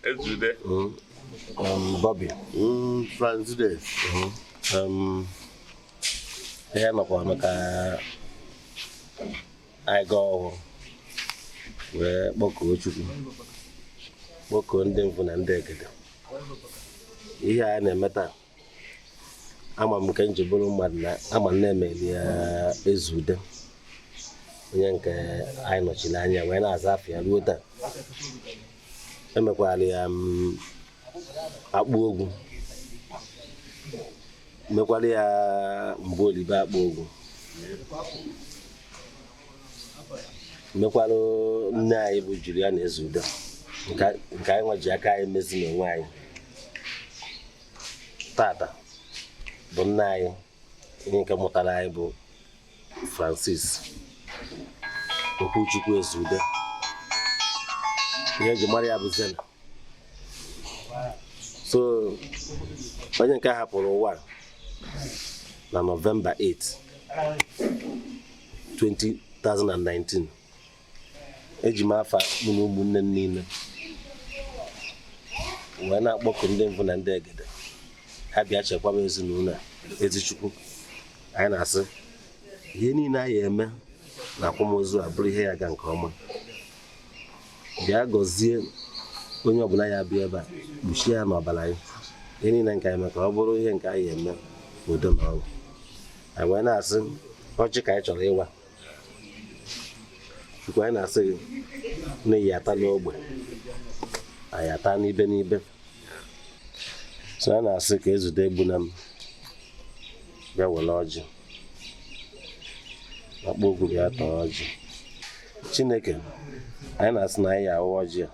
Ezeudo. Mm. Um, Bobby. Mm, Franzides. Mm-hmm. Um, ihe nọkwa maka anyị gaa ọhụrụ wee kpọkuo Chukwu kpọkuo ndị mvụ na ndị egede ihe anyị na-eme taa ama m nke m ji bụrụ mmadụ na ama m na emeli ya Ezeudo onye nke anyị nọchiri anya wee na-aza afa ya ruo taa emekwara ya mm, Akpuogwu mekwara ya Mgbolibe Akpuogwu mekwara nne anyị bụ Juliana Ezeudo nke anyị nwa ji aka anyị mezi n'onwe anyị tata bụ nna anyị onye nke mụtara anyị bụ Francis Okwuchukwu Ezeudo ihe eji mara ya bụ Zena so onye nke hapụrụ ụwa na Nọvemba 8 2019 eji m afa mụ na ụmụnne m niile wee na-akpọku ndị mbụ na ndị egede ha bịa chekwaba ezinụlọ a ezi Chukwu anyị na-asị ihe niile a ya-eme na akwamozu a bụrụ ihe ya-aga nke ọma bịa gọzie onye ọbụla ya-abịa ebe a kpuchie ya n'ọbara gị ihe niile nke anyị mee ka ọ bụrụ ihe nke a ya-eme udo na ọṅụ anyị wee na-asị ọjị ka anyị chọrọ ịwa Chukwu anyị na-asị gị na ị ya-ata n'ogbe anyị ata n'ibe n'ibe so anyị na-asị ka Ezeudo Egbunam bịa were ọjị Akpuogwu bịa taa ọjị Chineke anyị na-asị na anyị awa ọjị a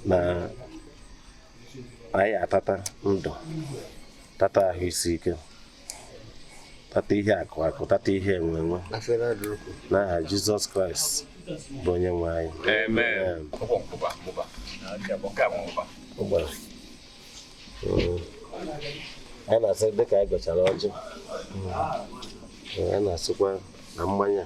na anyị atata ndụ tata ahụ isi ike tata ihe akụ akụ tata ihe enwe enwe n'aha Jizọs Kraịst bụ onye nwe anyị a na-asị dịka anyị gọchara ọjị a na-asịkwa na mmanya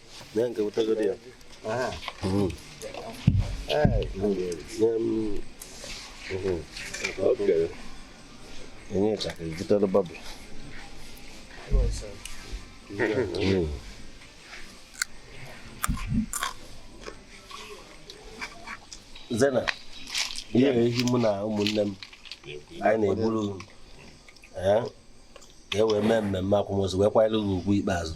Nye nke wetagodi ya. Aha. Mm. Hey, um, okay. Enye ka ibutere babu. Mm. Zena, ihe ehi mụ na ụmụnne m anyị na-egburu ka e wee mee mmemme akwamozu wee kwanyere ugwu ikpeazụ